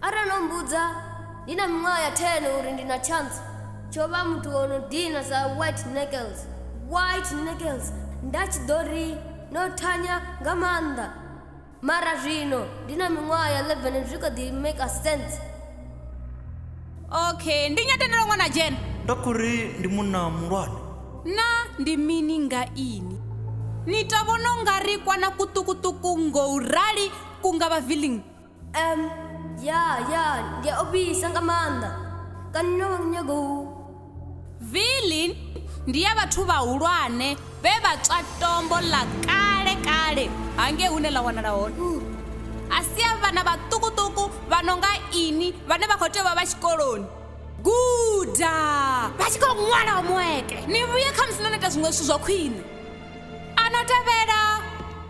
atandiuza ndi na miṅwaha ya 10 uri ndi na chance tsho vha muthu o no dina sa white knuckles white knuckles nda tshi ḓo ri no thanya nga maanḓa mara zwino ndi na miṅwaha ya 11 zwi kho ḓi make sense okay ndi nyatendelo ṅwana dzhena nda khou ri ndi munna muhulwane na ndi mini nga ini ni to vhona u nga ri kwana kuṱukuṱuku ngo u rali ku nga vha villing um ya ya ndi a ofhisa nga maanḓa kana no vha nyago u villing ndi ya vhathu vhahulwane vhe vha tswa tombo ḽa kale kale hangei hune ḽa wanala hone a si a vhana vhaṱukuṱuku vha no nga ini vhane vha khou tea u vha vha tshikoloni guda vha tshi khou ṅwala homuweke ni vhuye kha musi no no ita zwiṅwe zwithu zwa khwine a no tevhela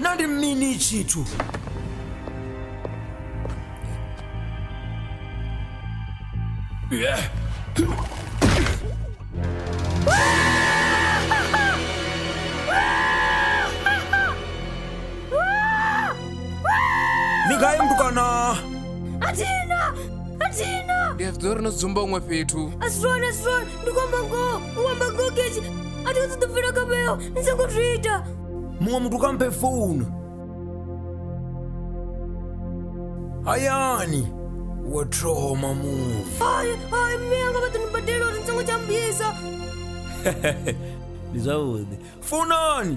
na ndi mini tshithu Yeah. ni gai mutukana athina athina ndi a zwiḓivha uri no dzumba huṅwe fhethu asironi asironi ndi kwamba ngoho u kwamba ngoho kechi a thi u ṱoḓo bvela kha vheo ni songo zwi ita muṅwe muthu kha mphe founu hayani wa thoma muṅwe hayi hayi mme anga vha ḓo ni badela uri ni songo tsha mbisa ndi zwavhuḓi founani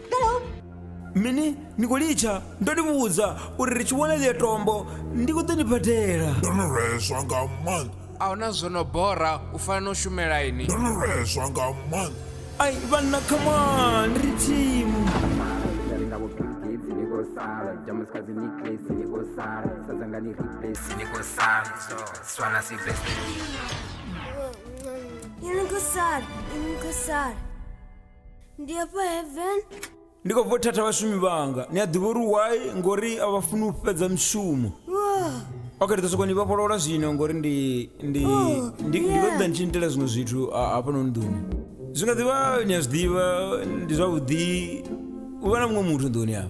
mini ni khou litsha ndo ni vhudza uri ri tshi vhona ḽiyo tombo ndi khou ḓo ni badela ndo no lweswa nga maanḓa a huna zwo no bora u fana no shumela ini ndo no lweswa nga maanḓa ai vhanna khamani ri thimu Ini khosana, ini khosana. ndi hafha heaven ndi khou bva u thatha vhashumi vhanga ni a ḓivha uri why ngori a vha funi u fhedza mishumo Wah, ok ndi ḓo sokou ni vhofholola zwino ngori ndi ndi Oh, ndi ndi khou yeah. ṱoḓa ni tshi nitela zwiṅwe zwithu a- hafhanoni nḓuni zwi nga ḓivha ni a zwi ḓivha ndi zwavhuḓi u vha na muṅwe muthu nḓuni afha